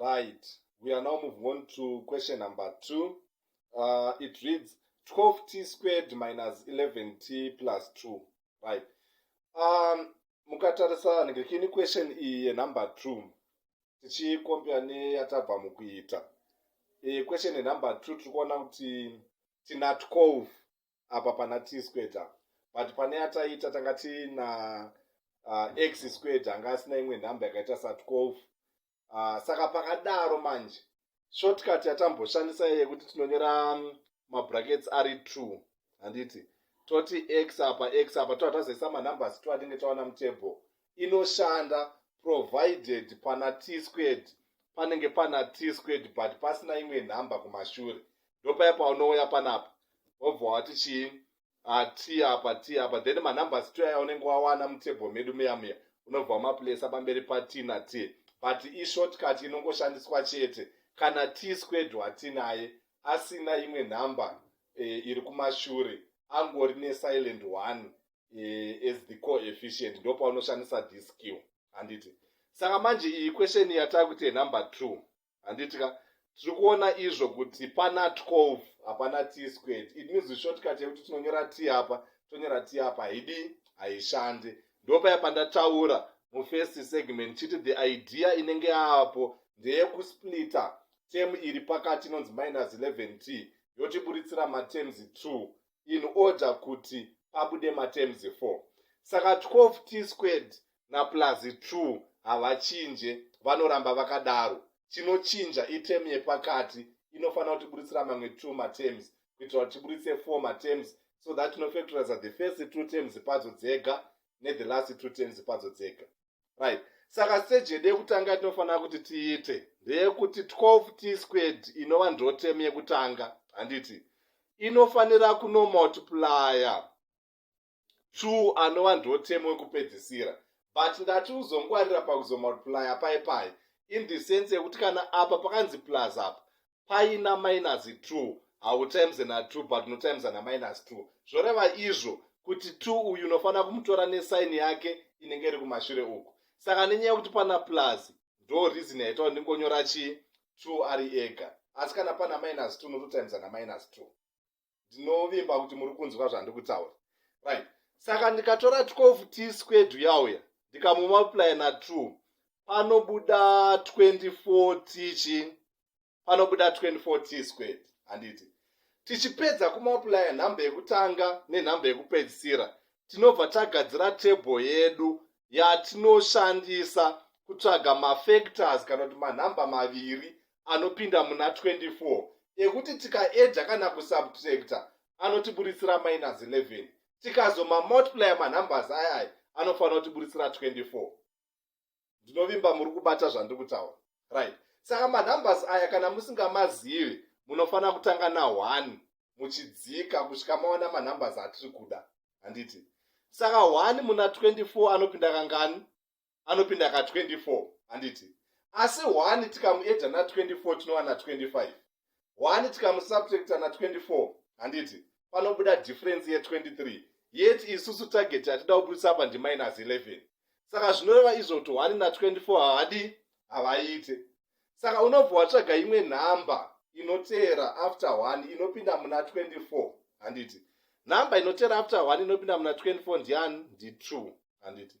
right we are now moving on to question number two uh, it reads 12 t squared minus 11 t plus 2 right um, mukatarisa ndikini question iyi yenumber two tichikompea neyatabva mukuita e, question yenumber two tiri kuona kuti tina 12 apa pana t squared apa but pane yataiita tanga tiina uh, x squared anga asina imwe nhamba yakaita sa 12 uh, ah, saka pakadaro manje shortcut yatamboshandisa iye yekuti tinonyora um, mabrackets ari 2 handiti toti x apa x apa toa tazoisa manumbers to atinge taona mutable inoshanda provided pana t-squared panenge pana t-squared but pasina imwe nhamba kumashure ndopaya paunouya panapa wobva wati chii ah, t apa t apa then manumbers to aya unenge wawana mutable medu muya muya unobva wamapulesa pamberi pat na t but ishortcut inongoshandiswa chete kana t-squared watinaye asina imwe nhamba e, iri kumashure angori nesilent one uh, as the coefficient ndo paunoshandisa this skill handiti saka manje iyi question yatava kuti yenumber two handiti ka tiri kuona izvo kuti pana 12 hapana t squared it means shortcut yekuti tinonyora t apa tonyora t apa haidi haishandi ndopaya pandataura mufirst segment chiti the idea inenge yaapo ndeyekusplita tem iri pakati inonzi minus 11 t yotiburitsira matems 2 in order kuti pabude matems 4 saka 12 t squared naplus 2 havachinje vanoramba vakadaro chinochinja item yepakati inofanira kuti buritsira mamwe 2 matems kuitira kuti tiburitse 4 matems so that tinofactoriza the first two terms padzo dzega nelast two terms padzo dzega right saka stage yedu yekutanga yatinofanira kuti tiite ndeyekuti 12 t squared inova ndotemu yekutanga handiti inofanira kunomultiplya two anova ndotemu wekupedzisira but ndati uzongwarira pakuzomultiplya pai pai in the sense yekuti kana apa pakanzi plus apa paina minus 2 hautimes na 2 but notimes na minus 2 zvoreva izvo kuti 2 uyu unofanira kumutora nesaini yake inenge iri kumashure uku saka nenyaya yekuti pana plus ndo reason yaita kuti ndingonyora chii 2 ari ega asi kana pana minus 2 nototimes na minus 2 ndinovimba kuti muri kunzwa zvandiri kutaura right saka ndikatora 12 t squared yauya ndikamumultiplya na 2 panobuda 24 t chi panobuda 24 t squared handiti tichipedza kumultiplya nhamba yekutanga nenhamba yekupedzisira tinobva tagadzira table yedu yatinoshandisa kutsvaga mafactors kana kuti manhamba maviri anopinda muna 24 ekuti tikaedha kana kusubtracta anotiburitsira minus 11 tikazomamultiplya manumbers ayaya anofanira kutiburitsira 24 ndinovimba muri kubata zvandiri kutaura right saka manumbers aya kana musingamazivi munofanira kutanga na1 muchidzika kusvika maona manumbers atiri kuda handiti saka 1 muna 24 anopinda kangani anopinda ka 24 handiti asi one tikamuedha na 24 tinowana 25 one tikamusubtracta na 24 handiti panobuda difference ye 23 yet isusu target yatida kubudisa apa ndi minus 11 saka zvinoreva izvo kuti one na 24 havadi havaite saka unobva watsvaga imwe nhamba inoteera after one inopinda muna 24 handiti nhamba inoteera after one inopinda muna 24 ndiani ndi two handiti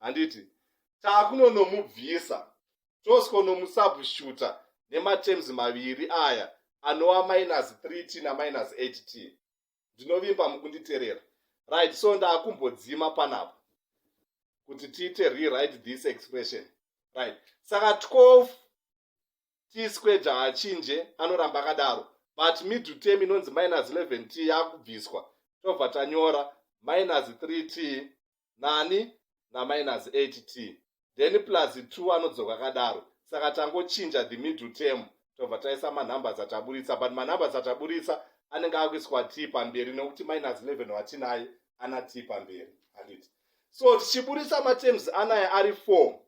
handiti takunonomubvisa tosikonomusabushuta nematerms maviri aya anova minus 3 t naminus 8 t ndinovimba mukunditerera right so ndakumbodzima panapa kuti tiite rewrite this expression right saka 12 t squared haachinje anoramba akadaro but middle term inonzi minus 11 t yakubviswa tobva tanyora minus 3 t nani naminus 8 t then plus 2 anodzoka akadaro saka tangochinja the middle term tobva taisa manumbers ataburitsa but manumbers ataburitsa anenge akuiswa t pamberi nekuti minus 11 watinaye ana t pamberi handiti so tichiburitsa matems anaya ari 4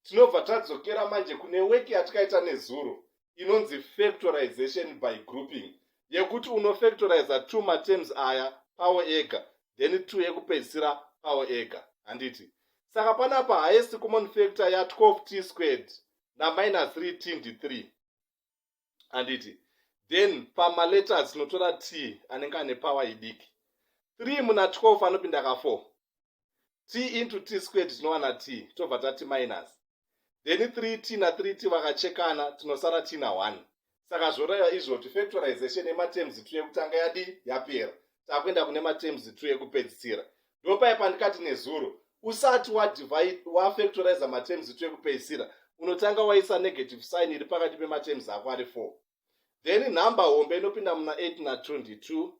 tinobva tadzokera manje kune weki yatikaita nezuro inonzi factorization by grouping yekuti unofactoriza two matems aya pawo ega then two yekupedzisira pawo ega handiti saka panapa highest common factor ya 12 t squared naminus 3 t ndi 3 handiti then pamaletters tinotora t anenge ane power idiki 3 muna 12 anopinda ka 4 t into t squared tinowana t tobva tati minus then 3t na3 t vakachekana tinosara t na 1 saka zvoraiva izvoti factorization yematerms two yekutanga yadi yapera takuenda kune materms two yekupedzisira ndopai pandikati nezuro usati wafactorize materms two yekupedzisira unotanga waisa negative sign iri pakati pematerms ako ari four then number hombe inopinda muna eight na two ndi two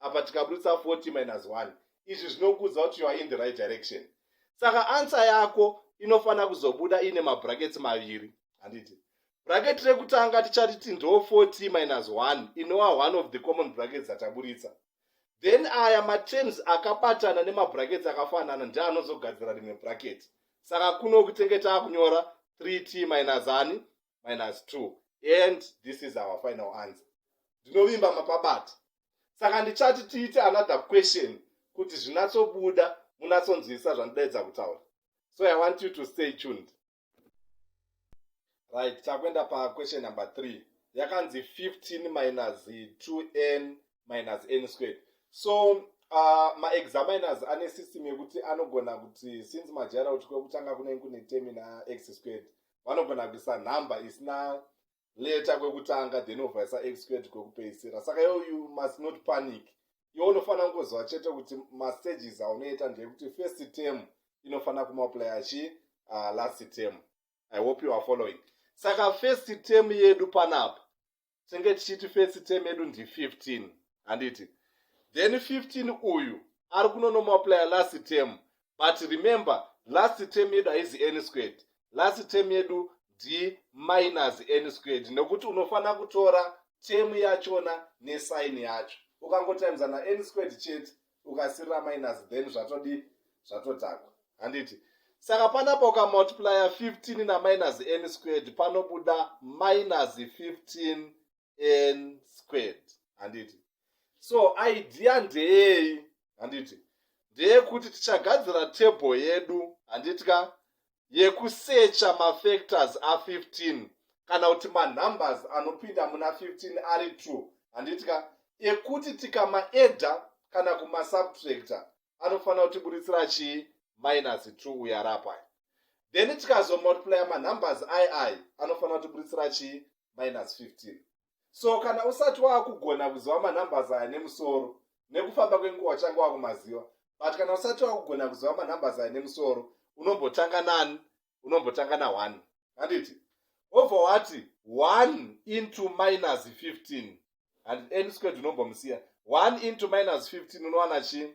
apa tikaburitsa 40 minus 1 izvi zvinokuudza kuti youare in the right direction saka ansa yako inofanira kuzobuda iine mabrakets maviri handiti bracket rekutanga tichariti ndo 40 minus 1 inowa one of the common brackets dzataburitsa then aya matems akabatana nemabrakets akafanana ndeanozogadzira rimwe bracket saka kuno kutenge taakunyora 3t minus ani minus 2 and this is our final answer ndinovimba mapabati saka ndichati tiite another question kuti zvinatsobuda munatsonzwisa zvandidaidza kutaura so i want you to stay tuned right takuenda paquestion number 3 yakanzi 15 minus 2n minus n squared so uh, maexaminers ane system yekuti anogona kuti since majara kuti kwekutanga kunenge kune term ina x squared vanogona kuisa nhamba isina leta kwekutanga then ovaisa exqued kwekupeisira saka yo you must not panic iwo unofanira kungoziva chete kuti mastages aunoita ndeyekuti first term inofanira kumaplaya chi uh, last term i hope you are following saka first term yedu panapa tinenge tichiti first term yedu ndi 15 handiti then 15 uyu ari kunonomaplya last term but remember last term yedu haizi any squared last term yedu ndi minus any squared nekuti unofanira kutora term yachona nesaini yacho ukangotimes na any squared chete ukasirira minus then zvatodii zvatodhakwa handiti saka panapa ukamultiplya 15 naminus n squared panobuda minus 15 n squared handiti so idea ndeyei handiti ndeyekuti tichagadzira table yedu handiti ka yekusecha mafactors a15 kana kuti manumbers anopinda muna 15 ari true handiti ka ekuti tikamaedha kana kumasubtracta anofanira kuti buritsira chii minus 2 uyo ari apai then tikazomultiplya manumbers ai ai anofanira kuti buritsira chii minus 15 so kana usati waakugona kuziva manumbers aya nemusoro nekufamba kwenguva changa wakumaziva but kana usati wakugona kuziva manumbers aya nemusoro unombotanga nani unombotanga na1 handiti obva wati 1 into minus 15 and n squared unombomusiya 1 into minus 15 unowana chii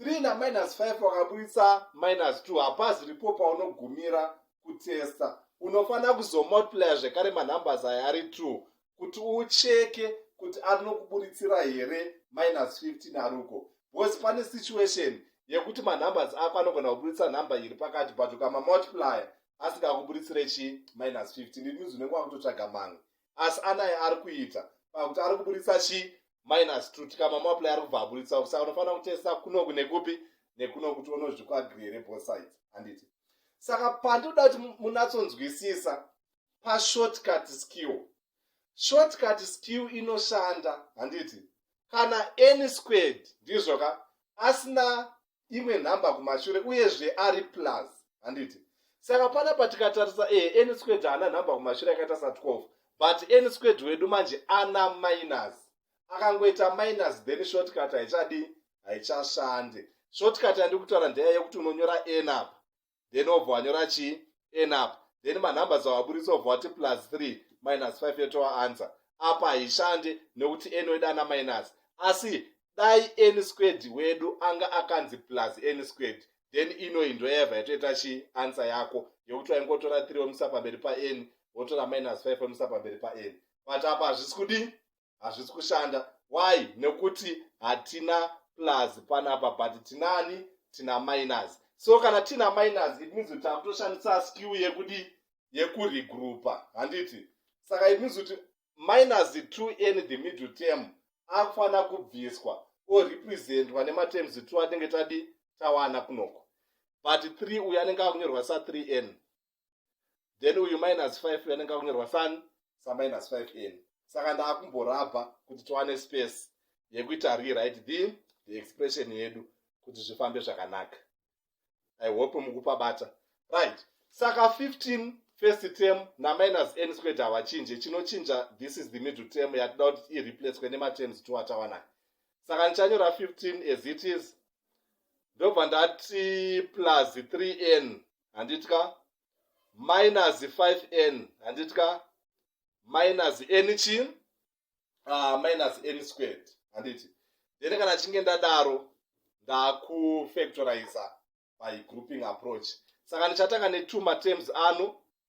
3 na minus 5 wakaburitsa minus 2 hapaziripo paunogumira kutesta unofanira kuzomultiplya zvekare manumbers aya ari 2 kuti ucheke kuti arinokuburitsira here minus 15 aruko bcause pane situation yekuti manumbers ako anogona kuburitsa number iri pakati but ukamamultiplya asingakuburitsire chi minus 15 it means unenge wakutotsvaga mamwe asi anaye ari kuita pakuti ari kuburitsa chi minus two tikama muapply ari kubva aburitsa kusa unofanira kutesta kunoku nekupi nekuno kuti unozvikwagiri here both sides handiti saka pandinoda kuti munatsonzwisisa pashortcut skill shortcut skill inoshanda handiti kana any squared ndizvoka asina imwe nhamba kumashure uyezve ari plus handiti saka pana patikatarisa e eh, any squared haana nhamba kumashure yakaita sa 12 but any squared wedu manje ana minus akangoita minus then shortcut haichadi haichashande shortcut yandikutaura ndeya yekuti unonyora n apa then obva wanyora chii n apa then manumbers awaburitsa obva wati plus 3 minus 5 yotowa answer apa haishande nekuti n wedu ana minus asi dai n squared wedu anga akanzi plus n squared then inoyi ndoyaiva yatoita chii answer yako yekuti waingotora 3 womisa pamberi pan wotora minus 5 womisa pamberi pan but apa hazvisi kudii hazvisi kushanda why nekuti hatina plus panapa but tinani tina minus so kana tiina minus it means kuti takutoshandisa skill yekudi yekuregroupa handiti saka it means kuti minus to n the middle term akufanira kubviswa or representwa nematerms two atinenge tadi tawana kunoko but three uyo anenge akunyorwa sa3 n then uyu minus 5 uyu anenge akunyorwa san saminus 5 n saka ndaakumborabha kuti tiwane space yekuita rewrite the, the expression yedu kuti zvifambe zvakanaka i hope mukupa bata right saka 15 first term naminus n squared havachinje chinochinja this is the middle term yatida kuti ireplacwe nematerms two atawanai saka ndichanyora 15 as it is ndobva ndati plus 3n handiti ka minus 5n handiti ka minus n chi uh, minus n squared handiti then kana chinge ndadaro ndakufactoriza by grouping approach saka ndichatanga ne2 matems ano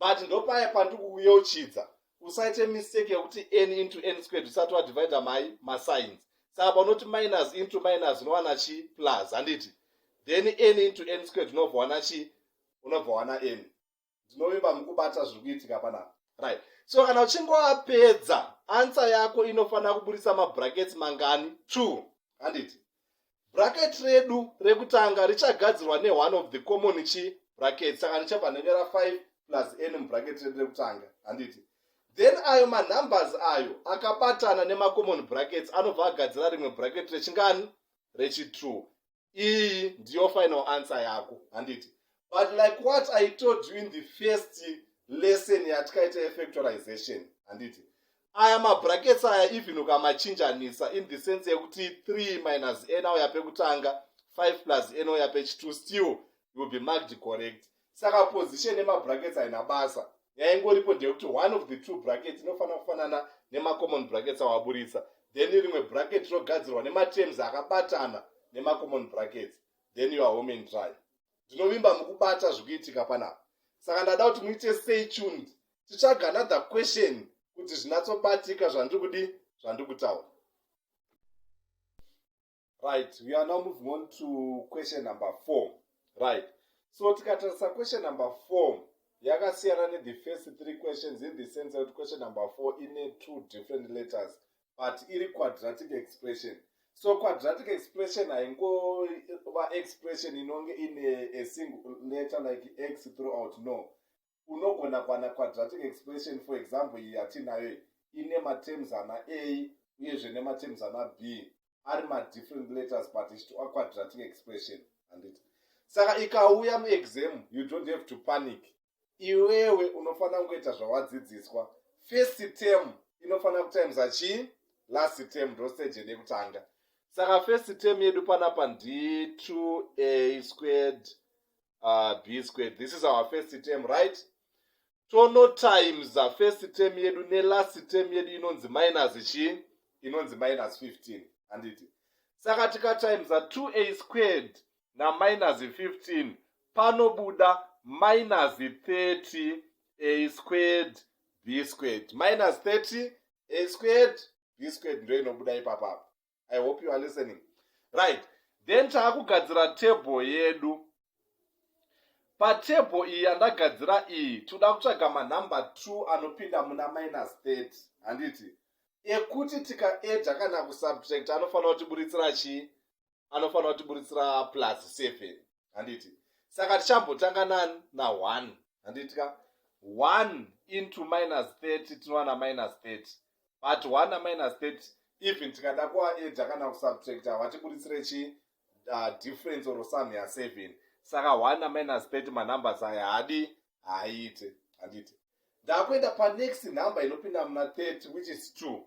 but ndopaya pandikuyeuchidza usaite mistake yekuti n into n squared usati wadivide mai masigns saka paunoti minus into minus unowana chi plus handiti then n into n squared unobva wana chi unobva wana n ndinovimba mukubata zviri kuitika panapa right so kana uchinge wapedza ansa yako inofanira kuburitsa mabrackets mangani two handiti bracket redu rekutanga richagadzirwa neone of the common chi bracket saka richabva nenge ra 5 plus n mubracket redu rekutanga handiti then ayo manumbers ayo akabatana nemacommon brackets anobva agadzira rimwe bracket rechingani rechitrue iyi ndiyo final answer yako handiti but like what i told you in the first lesson yatikaita yefactorization handiti aya mabrackets aya even ukamachinjanisa in the sense yekuti 3 minus n auya pekutanga 5 plus n auya pechitu still will be marked correct saka position yemabrackets haina basa yaingoripo ndeyekuti one of the two brackets inofanira kufanana nemacommon brackets awaburitsa then rimwe bracket rinogadzirwa nematerms akabatana nemacommon brackets then you are home and dry ndinovimba mukubata zvikuitika panapa saka ndada kuti muite stay tuned titsvaga another question kuti zvinatsobatika zvandiri kudi zvandiri kutaura right we are now moving on to question number four right so tikatarisa question number four yakasiyana nethe first three questions in the sense yekuti question number four ine two different letters but iri quadratic expression so quadratic expression haingova expression inonge ine a single letter like x throughout no unogona kuwana quadratic expression for example iyi yatiinayo ine matems ana a uyezve nematems ana b ari madifferent letters but ichitiwa quadratic expression handiti saka ikauya muexam you don't have to panic iwewe unofanira kungoita zvawadzidziswa first term inofanira kutimesa chii last term ndo stage yedu yekutanga saka first term yedu panapa ndi 2a squared uh, b squared this is our first term right tono times the first term yedu nelast term yedu inonzi minus chii inonzi minus 15 handiti saka tikatimes 2a squared naminus 15 panobuda minus 30 a squared b squared minus 30 a squared b squared ndo inobuda ipapapa i hope you are listening right then taakugadzira table yedu patable iyi yandagadzira iyi toda kutsvaga manumber two anopinda muna minus 30 handiti ekuti tikaeda kana kusubtract anofanira kutiburitsira chii anofanira kutiburitsira plus 7 handiti saka tichambotanga nani na one handiti ka one into minus 30 tinowana minus 30 but one na minus 30 even tikada kuaeda kana kusubtracta hwatiburitsire chi uh, difference or sum ya seven saka one na minus 30 manumbers aya haadi haaite handiti ndakuenda panext number inopinda muna 30 which is two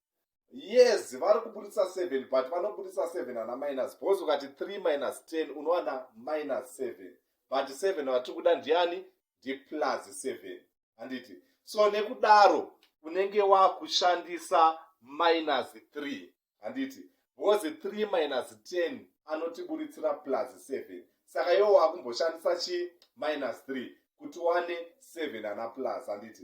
yes vari kuburitsa seven but vanoburitsa seven ana minus because ukati three minus ten unowana minus seven but seven vatiri kuda ndiani ndiplus seven handiti so nekudaro unenge wakushandisa minus three handiti because three minus ten anotiburitsira plus seven saka iwo wakumboshandisa chi minus three kuti wane seven ana plus handiti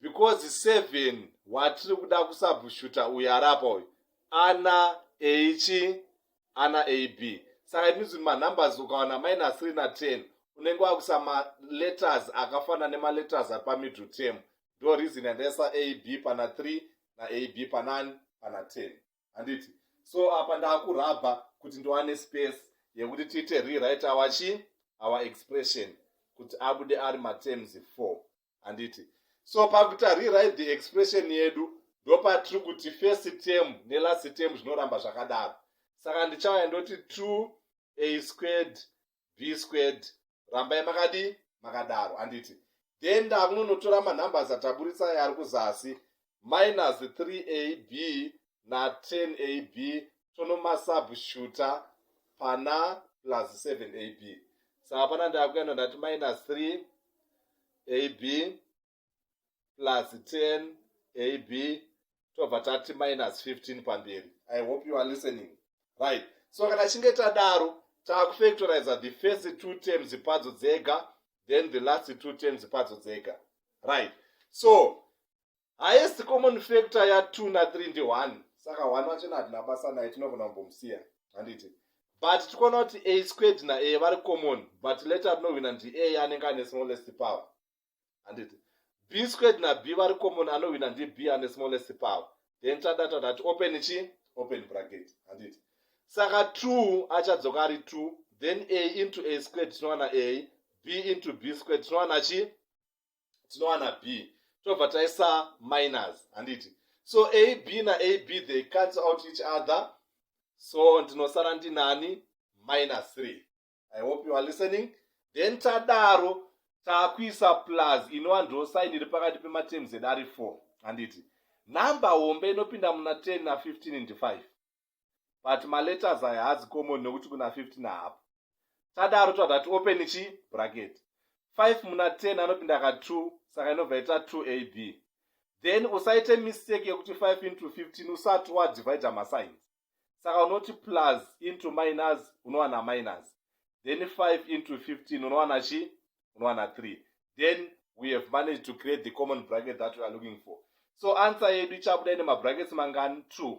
because seven watiri kuda kusabhushuta uyu arapa uyu ana eichi ana ab saka it means kuti manumbers ukawana minus three na ten unenge wakuisa maletters akafanana nemaletters ari pamiddle term ndo reason yandaisa ab pana three na ab panani pana ten handiti so apa ndakurabha kuti ndiwane space yekuti tiite rewrite our chi our expression kuti abude ari matems four handiti so pakutarirai the expression yedu ndopatiri kuti first term nelast term zvinoramba zvakadaro saka ndichauya ndoti two a squared b squared rambai makadii makadaro handiti then ndakunonotora manumbers ataburitsa ari kuzasi minus 3ab na10ab tonomasabshuta pana plus 7ab saka pana ndakuenda ndati minus 3ab plus 10ab tobva tati minus 15 pamberi i hope you are listening right so kana chinge tadaro takufactoriza the first two terms padzo dzega then the last two terms padzo dzega right so highest common factor ya two na three ndi one saka one wachena hatina basa naye tinogona kumbomusiya handiti but tikuona kuti a squared na a vari common but letter rinohwina ndi a anenge ane smallest power handiti b squared na b vari common anohwina ndi b ane smallest power then tada tadati open chi open bracket handiti saka two achadzoka ari two then a into a squared tinowana a b into b squared tinowana chi tinowana b tobva taisa minus handiti so ab naab they cancel out each other so ndinosara ndinani minus 3 i hope you are listening then tadaro takuisa plus inova ndo sign iri pakati pematerms edu ari 4 handiti number hombe inopinda muna 10 na 15 ndi 5 but maletters aya haazi common nekuti kuna 15 haapo tadaro tobva tati open chi bracket 5 muna 10 anopinda ka 2 saka inobva ita 2 a b then usaite mistake yekuti 5 into 15 usati wadivide masigns saka unoti plus into minus unowana minus then 5 into 15 unowana chi unowana 3 then we have managed to create the common bracket that we are looking for so answer yedu ichabuda ine mabrackets mangani 2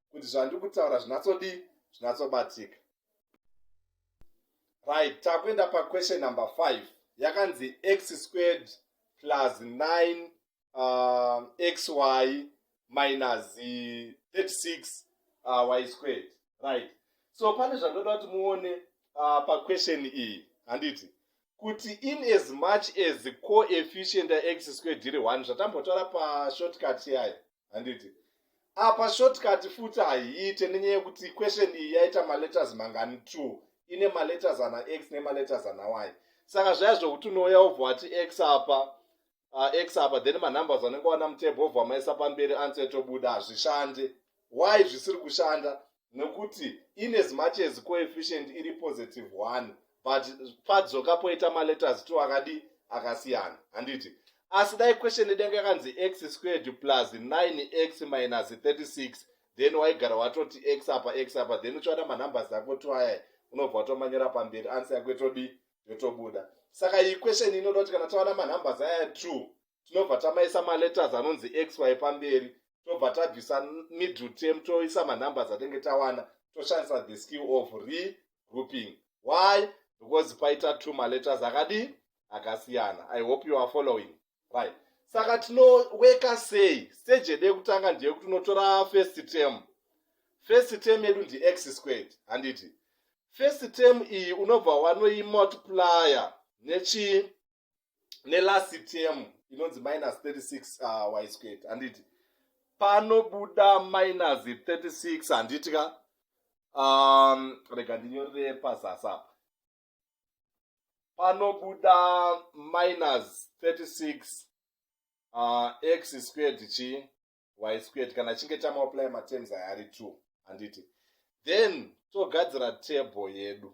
kuti zvandiri kutaura zvinatsodii zvinatsobatika right takuenda paquestion number five yakanzi x squared plus 9 uh, xy minus 36 uh, y squared right so pane zvandoda kuti muone uh, paquestion iyi handiti kuti in as much as coefficient yax squared iri one zvatambotaura pashortcut yayo handiti apa shortcut futi haiite nenyaya yekuti question iyi yaita maletters mangani two ine maletters ana x nemaletters ana y saka zvaya zvokuti unouya wobva wati x apa uh, x apa then manumbers anenge wana mutebho obva wamaisa pamberi answer tobuda hazvishande why zvisiri kushanda nekuti in as much as coefficient iri positive one but padzoka poita maletters two akadi akasiyana handiti asi dai question yedu yanga yakanzi x squared plus 9x minus 36 then waigara watoti x apa x apa then uchiwana manumbers ako two aya unobva watomanyora pamberi ansa yako itodii yotobuda saka iyi question inoda kuti kana tawana manumbers aya two tinobva tamaisa maletters anonzi xy pamberi tobva tabvisa middle term toisa manumbers atenge tawana toshandisa the skill of regrouping why because paita two maletters akadii akasiyana i hope you are following right saka tinoweka sei stage yedu yekutanga ndeyekuti unotora first term first term yedu ndi x squared handiti first term iyi unobva wanoimultiplier nechii nelast term inonzi minus 36 uh, y squared handiti panobuda minus 36 handiti ka um, rega ndinyorere pazasi apa panobuda minus 36 uh, x squared chi y squared kana chinge chamaplya matems aya ari two handiti then togadzira table yedu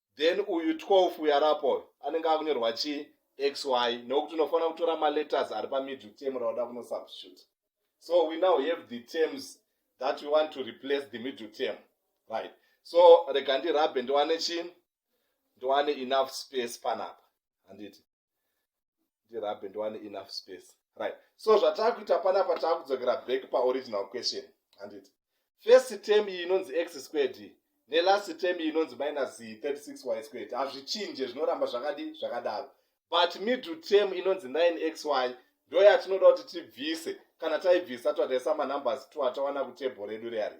then uyu 12 uyu arapo uyu anenge akunyorwa chii xy nokuti unofanira kutora maletters ari pamiddle term rauda kunosubstitute so we now have the terms that we want to replace the middle term right so rega ndirabhe ndiwane chii ndiwane enough space panapa handiti ndirabhe ndiwane enough space right so zvataakuita panapa taakudzokera back paoriginal question handiti first term iyi inonzi x squared iyi nelast term iyi inonzi minus 36 y squared hazvichinje zvinoramba zvakadi zvakadaro but middle term inonzi 9 x y ndo yatinoda kuti tibvise kana taibvisa twataisa manumbers twatawana kutable redu reari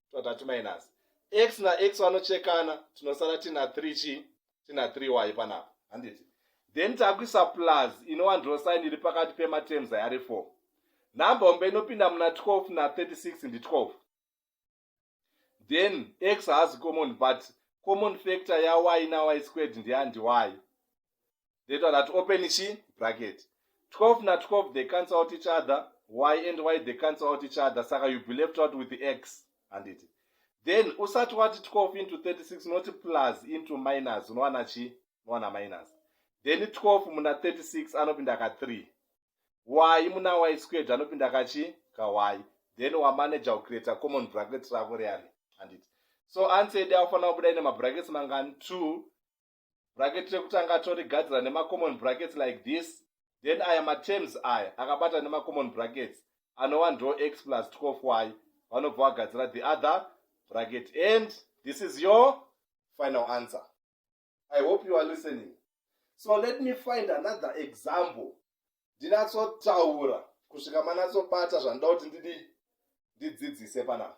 tobata timinus x nax vanochekana tinosara tina 3 chi tina 3 y panapa handiti then takuisa plus inova ndiro sign iri pakati pematerms ayari 4 number hombe inopinda muna 12 na 36 ndi 12 then x haazi common but common factor yay na y squared ndeyandi y they told her to open chi bracket 12 na 12 they cancel out each other why and why they cancel out each other saka you be left out with the x handiti then usati wati 12 into 36 unoti plus into minus unowana chi unowana minus then 12 muna 36 anopinda ka 3 y muna y squared anopinda kachi ka y then wamanaja kucreata common bracket rako riyani handiti so answer yedi akufanira kubuda ine mabrackets mangani 2 bracket rekutanga torigadzira nemacommon brackets like this then aya matems aya akabata nemacommon brackets anova ndo x plus 12 y vanobva vagadzira the other bracket and this is your final answer i hope you are listening so let me find another example ndinatsotaura kusvika manatsobata zvandinoda kuti ndidi ndidzidzise panapa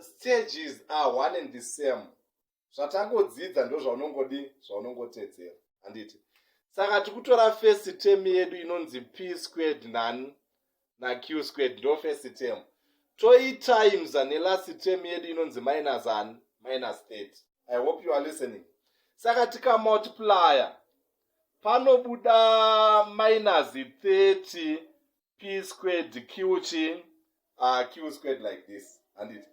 stages are one and the same zvatangodzidza ndozvaunongodi zvaunongotedzera handiti saka tikutora first term yedu inonzi p squared nani naQ squared ndo first term toyi times ane last term yedu inonzi minus ani minus 30 i hope you are listening saka tikamultiplier panobuda minus 30 p squared q chii ah, q squared like this handit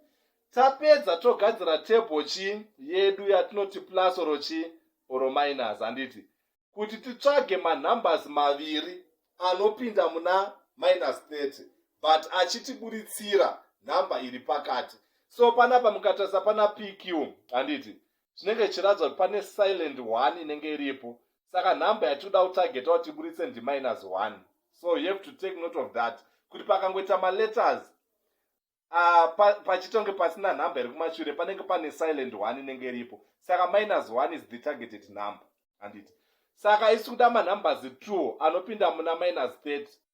tapedza togadzira table chii yedu yatinoti plus oro chii oro minus handiti kuti titsvage manumbers maviri anopinda muna minus 30 but achitiburitsira number iri pakati so panapa mukatarisa pana pq handiti zvinenge zvichiratidza kuti pane silent one inenge iripo saka nhamba yatikuda kutargeta kuti iburitse ndiminus one so you have to take note of that kuti pakangoita maletters Ah, pachitonge pasina number iri kumashure panenge pane silent one inenge iripo saka minus one is the targeted number handiti saka isi kuda manumbers two anopinda muna minus 30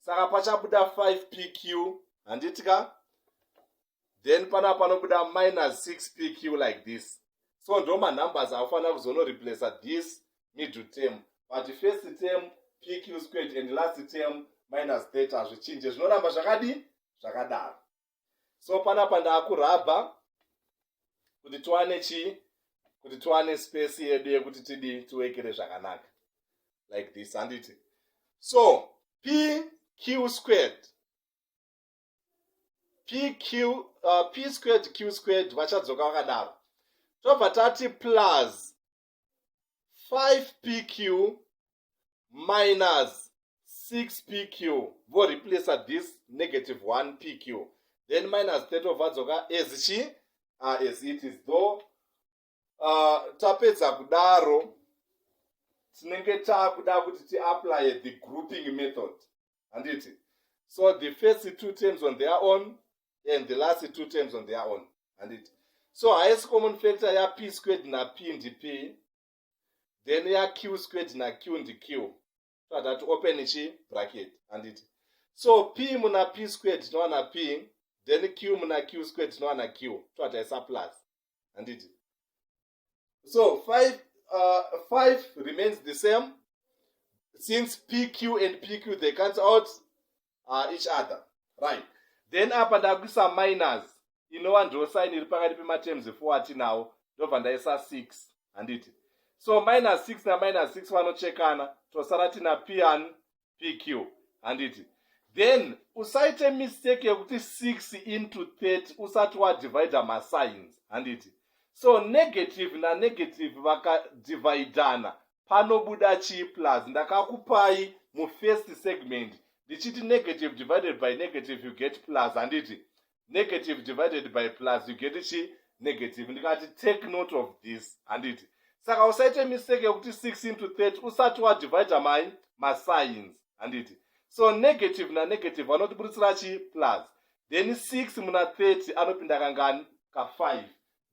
saka pachabuda 5 pq handiti ka then panapa panobuda minus 6 pq like this so ndo manumbers akufanira kuzonoreplace this middle term but first term pq squared and last term minus theta hazvichinje zvinoramba zvakadi zvakadaro so panapa ndaakurabha kuti tiwane chii kuti tiwane space yedu yekuti tidi tiwekere zvakanaka like this handiti so p q squared p q uh, p squared q squared vachadzoka vakadaro tobva tati plus 5pq minus 6pq voreplacer this negative 1pq then minus 3 ovadzoka as chi uh, as it is though uh, tapedza kudaro tinenge taakuda kuti tiapply the grouping method handiti so the first two terms on their own and the last two terms on their own handiti so highest common factor ya p squared na p ndi p then ya q squared na q ndi q tatati open chi bracket handiti so p muna p squared tinowana p then q muna q squared tinowana q towataisa plus handiti so five, uh, five remains the same since pq and pq they cancel out uh, each other right then apa ndakuisa minus inova ndo sign iri pakati pematerms efo atinawo ndobva ndaisa six handiti so minus six naminus six vanochekana tosara tina pian pq handiti then usaite mistake yekuti 6 into 30 usati wadivida masigns handiti so negative nanegative vakadividana panobuda chii plus ndakakupai mufirst segment ndichiti negative divided by negative you get plus handiti negative divided by plus you get chi negative ndikati take note of this handiti saka usaite mistake yekuti 6 into 30 usati wadivide mai mascience handiti so negative nanegative anotiburitsira chi plus then 6 muna 30 anopinda kangani ka 5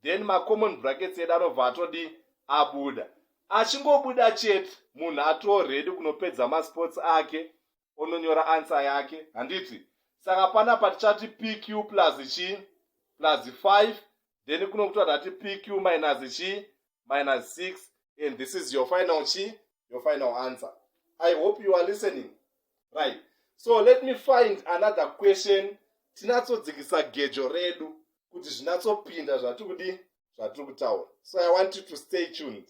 then macommon brackets edu anobva atodi abuda achingobuda chete munhu atoredi kunopedza masports ake ononyora ansa yake handiti saka panapa tichati pq plus chii plus 5 then kuno kutora tati pq minus chii minus 6 and this is your final chii your final answer i hope you are listening right so let me find another question tinatsodzikisa gejo redu kuti zvinatsopinda zvatiri kudii zvatiri kutaura so i want you to stay tuned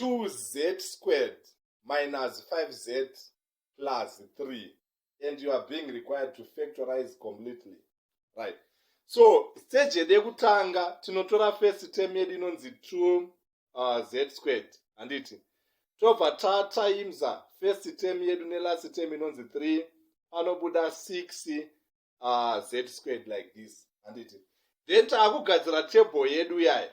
2z squared minus 5z plus 3 and you are being required to factorize completely right so stage yedu yekutanga tinotora first term yedu inonzi 2 uh, z squared handiti tobva tatimesa first term yedu nelast term inonzi 3 panobuda 6 uh, z squared like this handiti then taakugadzira table yedu yaya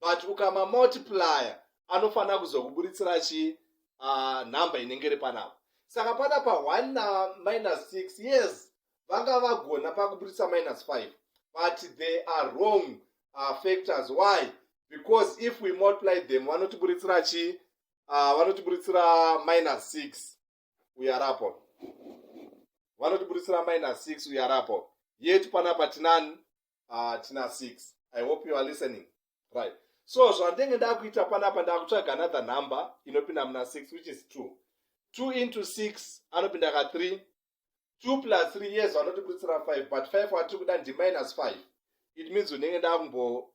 but ukama multiplier anofanira kuzokuburitsira chii uh, number inenge iri panapa saka pana pa 1 na minus 6 yes vanga vagona pakuburitsa minus 5 but they are wrong uh, factors why because if we multiply them vanotiburitsira chii uh, vanotiburitsira minus 6 uyu ari apo vanotiburitsira minus six uyu ari apo yet panapa tinani uh, tina six i hope you are listening right so zvandenge ndakuita panapa ndakutsvaga another number inopinda muna six which is two two into six anopinda ka three two plus three years vanotiburitsira five but five watiri kuda ndi minus five it means unenge ndakumbo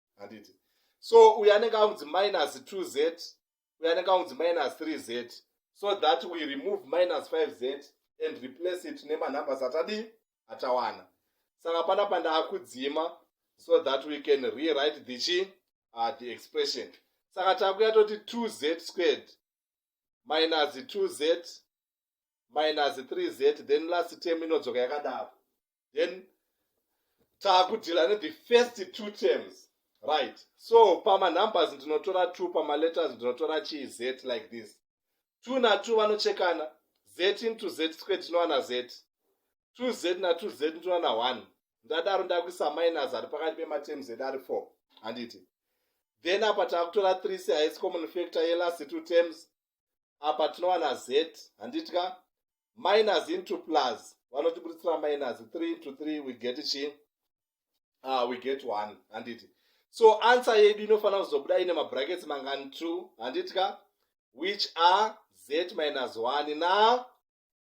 handiti so uyo anenge aunzi minus 2 z uyo anenge aunzi minus 3 z so that we remove minus 5 z and replace it nemanumbers atadii atawana saka pana pandaakudzima so that we can rewrite the chi uh, the expression saka takuya toti 2 z squared minus 2 z minus 3 z then last term inodzoka yakadaro then taakudhila ne the first two terms right so pamanumbers ndinotora two pamaletters ndinotora chii z like this two na two vanochekana z into z square tinowana z two z na two z ndinowana one ndadaro ndakuisa minus ari pakati pematerms edu ari four handiti then apa takutora three sehaisi common factor yelast two terms apa tinowana z handitya minus into plus vanotiburitsira minus 3 into 3 we get chi uh, we get 1 handiti so answer yedu inofanira kuzobuda ine mabrackets mangani 2 handitya which are z minus 1 na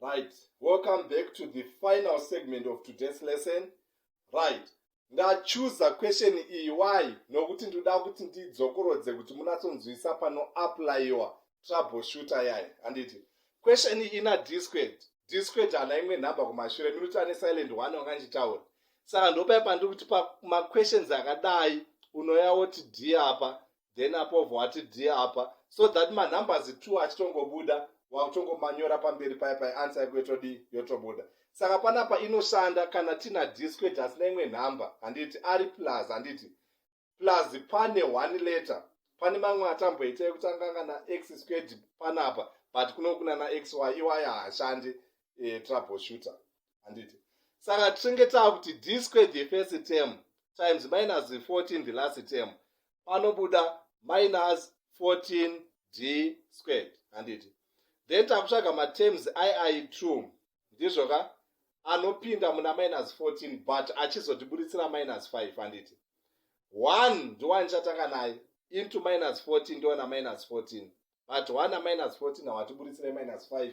right welcome back to the final segment of today's lesson right ndachuza question iyi why nokuti ndoda kuti ndidzokorodze kuti munatsonzwisa panoaplayiwa troubleshooter yayo handiti question iyi ina disqued disqued hana imwe nhamba kumashure minuti ane silent one wanga ndichitaura saka ndopai pandiri kuti pamaquestions akadai unoya woti d apa then apovho ati dhi apa so that manumbers two achitongobuda wakutongomanyora pamberi paya pai ansa yako yotodii yotobuda saka panapa inoshanda kana tina disquet asina imwe nhamba handiti ari plus handiti plus pane one letter pane mamwe atamboita ekutanga kana x squared panapa but kuno kuna na xy iwaya haashandi e, trouble shooter handiti saka tinenge taa kuti d square the first term times minus 14 the last term panobuda minus 14 d squared handiti then takutsvaga matems iai two ndizvo ka anopinda muna minus 14 but achizotiburitsira minus 5 handiti one ndiwanichatanga naye into minus 14 ndiwana minus 14 but one aminus 14 hawatiburitsire minus 5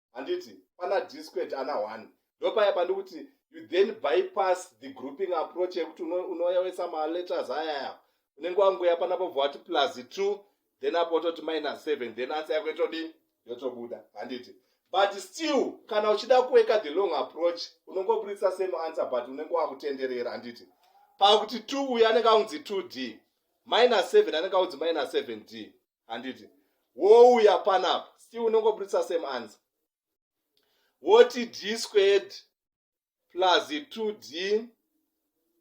handiti pana disquet ana one ndopaya pandikuti you then bypass the grouping approach yekuti unoyawesa maletters ayaya unenge wanguya panapa bva wati plus two then apo ototi minus seven then ansa yako itodii yotobuda handiti but still kana uchida kuweka the long approach unongoburitsa same answer but unenge wakutenderera handiti pakuti two uyo anenge aunzi two d minus seven anenge aunzi minus seven d handiti wouya panapa still unongoburitsa same answer woti d squared plus 2d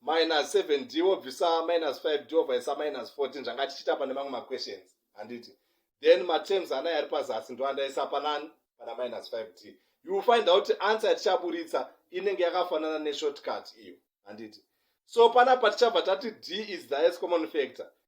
minus 7d wobvisa minus 5d wobvaisa minus 14 zvanga tichiita pane mamwe maquestions handiti then materms ana yari pazasi ndoandaisa panani pana minus 5d you will find out answer yatichaburitsa inenge yakafanana neshortcut iyo handiti so panapa tichabva tati d is the highest common factor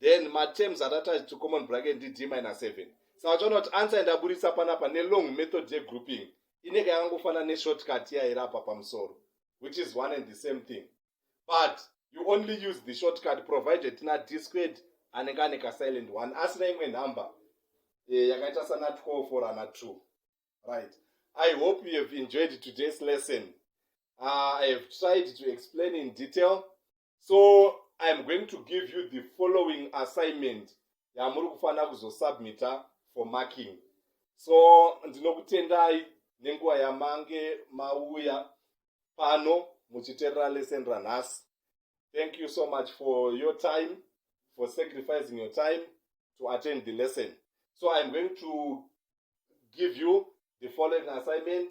then matems atatachi to common bracket ndi d minus seven saka uchaona kuti ansa yandaburitsa panapa nelong method yegrouping inenge yakangofanana neshortcut yairapa pamusoro which is one and the same thing but you only use the shortcut provided tina d squared anenge ane kasilent one asina imwe number eh, yakaita sana 12 or ana 2 right i hope you have enjoyed today's lesson uh, i have tried to explain in detail so iam going to give you the following assignment yamuri kufanira kuzosubmita for marking so ndinokutendai nenguva yamange mauya pano muchiterera lesson ranhasi thank you so much for your time for sacrificing your time to attend the lesson so iam going to give you the following assignment